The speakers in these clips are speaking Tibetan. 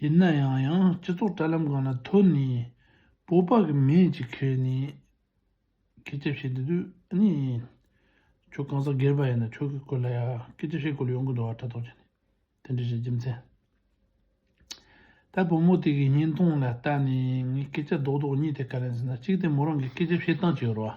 ཡིན་ན་ཡང་ཡང་སྤྱི་ཚོགས་དྲ་ལམ་གང་ལ་ཐོན་ནས་སྤོབས་པ་གི་མེ་ལྕེ་ཁེལ་ནས་སྐད་ཆ་བཤད་འདི་དུས་གཉིས། ཁྱོད་གང་ཟག་སྒེར་པ་ཡིན་ན་ཁྱོད་ཀྱི་སྐོར་ལ་ཡང་སྐད་ཆ་བཤད་དགོས་ལ་ཡོང་གི་འདུག་ཨ་ཕྲ་དོག་ཅན། དེ་འདྲ་བྱེད་རྒྱུ་མཚན། ད་བུ་མོ་དེ་གི་བརྙན་ཐུང་ལ་ལྟ་ནས་ངས་སྐད་ཆ་རྡོག་རྡོག་གཉིས་དེ་ག་རེ་ཟེར་ན་གཅིག་དེ་མོ་རང་གི་སྐད་ཆ་བཤད་སྟངས་ཀྱི་རུ་བ།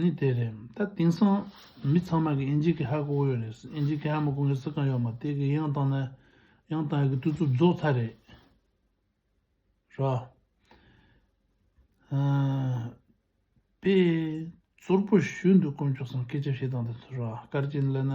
ནི་དེ་རེད། ད་དེང་སང་མི་ཚང་མ་གི་ཨིན་ཇི་ཀི་ཧ་གོ་ཡོད་རེད། ཨིན་ཇི་ཀི་ཧ་མ་གོ་མཁན་སུ་གང་ཡོད་མ་དེ་གི་ཡང་དང་ན་ཡང་དང་ཡ་གི་བསྟུད་ཚུགས་རྫོགས་ཚར་རེད། རོགས། ཨ། པེ། ཙོར་པོ་ཞུས་འདུག་དཀོན་མཆོག་སམ་སྐད་ཆ་བཤད་སྟངས་དེ་ཚོ་རོགས་དཀར་ཅན་ལ་ན།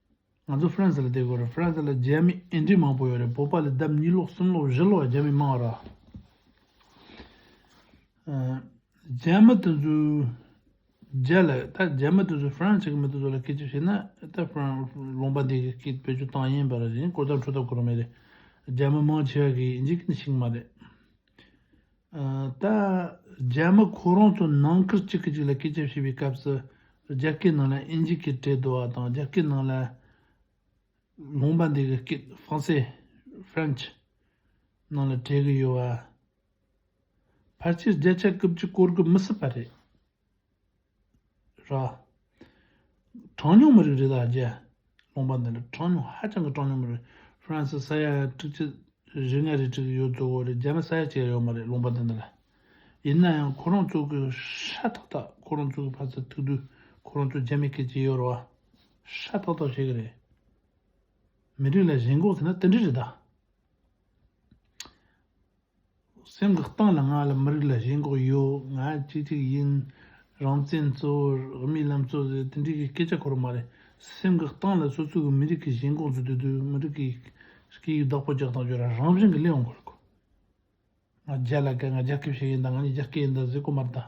ང་ཚོ་ཧྥ་རན་སི་ལ་བསྡད་དགོས་རེད་ཧྥ་རན་སི་ལ་རྒྱ་མི་ཨེ་འདྲིས་མང་པོ་ཡོད་རེད་བོད་པ་ལས་ལྡབ་གཉིས་ལོག་གསུམ་ལོག་བཞི་ལོག་རྒྱ་མི་མང་ར་རྒྱ་མི་དེ་ཚོས་རྒྱ་ལ་ད་རྒྱ་མི་དེ་ཚོས་ཧྥ་རན་སི་གི་མི་དེ་ཚོ་ལ་སྐད་ཆ་བཤད་ན་ད་ཧྥ་རན་ལུང་པ་འདི་གི་བོད་ཆོས་བཏང་ཡིན་པ་ར་རེད་གོ་ཐག་འཕྲོ་ཐག་གོ་ར་མེད་རེད་རྒྱ་མི་མང་ཆེ་བ་གིས་འཇིག་གི་ནི་ཞིག་མ་རེད། ད་རྒྱ་མི་ཁོ་རང་ཚོ་ནང་ཁུལ་གཅིག་གི་གཅིག་ལ་སྐེ་བཅབས་བྱེད་པའི་སྐབས་སུ་རྒྱ་སྐད་ནང་ལ་ཨིན་ཇི་སྐད་བྲེལ་བསྡུ་བ་དང་རྒྱ་སྐད་ནང་ལ་ལུང་པ་འདི་གི་སྐད་ཧྥང་སེ། French། ནང་ལ་བྲེལ་གི་ཡོད་བ། ཕར་ཆེར་རྒྱ་ཆ་རྐུབ་ཀྱི་བསྐོར་གི་མི་སྲིད་པ་རེད། ར། གྲངས་ཉུང་མི་རིགས་རེ་དང་བརྒྱད། ལུང་པ་འདི་འདྲ་གྲངས་ཉུང་ཧ་ཅང་གི་གྲངས་ཉུང་མི་རིགས France ས་ཡ་ཁྲི་གཅིག་རེ་ལྔ་རེ་བྲིས་ཡོད་གཙོ་བོ་རེ་རྒྱ་ནག་ས་ཡ་གཅིག་ཡ་ཡོད་མ་རེད་ལུང་པ་འདི་འདྲ་ལ། ཡིན་ན་ཡང་ཁོ་རང་ཚོ་གི་ཧྲ་ཐག་ཐག་ཁོ་རང་ཚོ་གི་ཕ་ཚ་ཐུག་དུས་ཁོ་རང་ཚོ་རྒྱ་མི་སྐད་ཅི་ཡོད་ར་བ་ཧྲ་ཐག་ཐག་བཤད་གི་རེད། མི་རིགས་ལ་ཞེན་འགོག་བྱས་ན་དེ་འདྲ་རེད་ད། སེམས་ཀྱི་སྟེང་ལ་ང་ལ་མི་རིགས་ལ་གཞན་འགོག་ཡོད་ང་གཅིག་གཅིག་ཡིན། རང་བཙན་གཙོ་བོར་མིའི་ལམ་གཙོ་བོ་དེ་འདྲའི་གི་སྐད་ཆ་གོ་ར་མ་རེད། སེམས་ཀྱི་སྟེང་ལ་སོ་སོ་གི་མི་རིགས་གི་གཞན་འགོག་འཛུགས་དུས་དུས་མི་རིགས་ཀྱི་སྐད་ཡིག་བདག་པོ་རྒྱག་སྟངས་བརྗོད་ར་རང་བཞིན་གི་ལེ་འོང་གོ་ར་གོ། ང་རྒྱ་ལ་སྐད་ང་རྒྱ་སྐད་བཤད་ཡིན་དང་ང་ནི་རྒྱ་སྐད་ཡིན་དང་ཟེ་གོ་མ་ར་ད།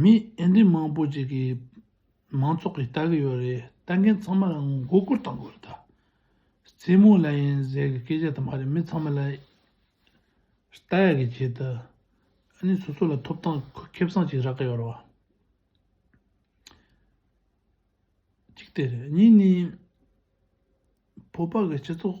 མི་ཨེ་འདྲི་མང་པོ་ཅིག་གིས་མང་ཚོགས་ཀྱིས་ལྟ་གི་ཡོད་རེད་ལྟ་མཁན་ཚང་མ་ལ་མགོ་སྐོར་བཏང་དགོས་རེད་རྩེད་མོ་ལ་ཡིན་ཟེར་གི་སྐད་ཆ་དེ་མ་རེད་མི་ཚང་མ་ལ་ལྟ་ཡག་གི་བྱེད་དུ་ཨ་ནི་སོ་སོ་ལ་ཐོབ་ཐང་ཁེབས་སང་ཅིག་རག་གི་ཡོད་རེད་གཅིག་དེ་རེད་གཉིས་ནི་བོད་པ་གི་སྤྱི་ཚོགས།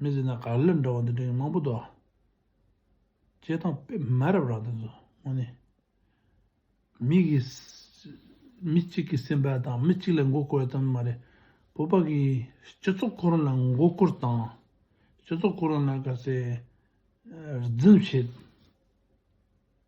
མི་ཟེར་ན་གར་ལེར་འདྲ་བ་འདི་འདྲ་ཡང་མང་པོ་འདུག་སྤྱད་དང་པད་མ་རབ་རང་དེ་ཚོ་དངོས་ནས་མི་གི་མི་གཅིག་གི་སེམས་པ་དང་མི་གཅིག་ལ་མགོ་སྐོར་བ་ཙམ་མ་རེད་བོད་པ་གི་སྤྱི་ཚོགས་ཁོ་རང་ལ་མགོ་སྐོར་དང་སྤྱི་ཚོགས་ཁོ་རང་ལ་ག་ཚད་རྫུན་བྱེད།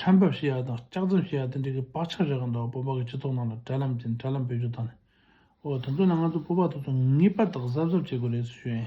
ཁྲལ་འབབ་བྱེད་ཡག་དང་ལྕགས་འཛེམ་བྱེད་ཡག་དེ་འདྲའི་གི་བག་ཆགས་རེ་གང་འདུག་སྤོབས་པ་གི་སྤྱི་ཚོགས་ནང་ལ་དྲ་ལམ་གྱིས་དྲ་ལམ་བེད་སྤྱོད་བཏང་ནས་འོ་དེ་ཚོ་ལ་ང་ཚོ་སྤོབས་པ་ཐོབ་ཚོད་ངེས་པར་དག་གཟབ་གཟབ་བྱེད་དགོས་རེད་ཟེར་ཞོད་ཨེ།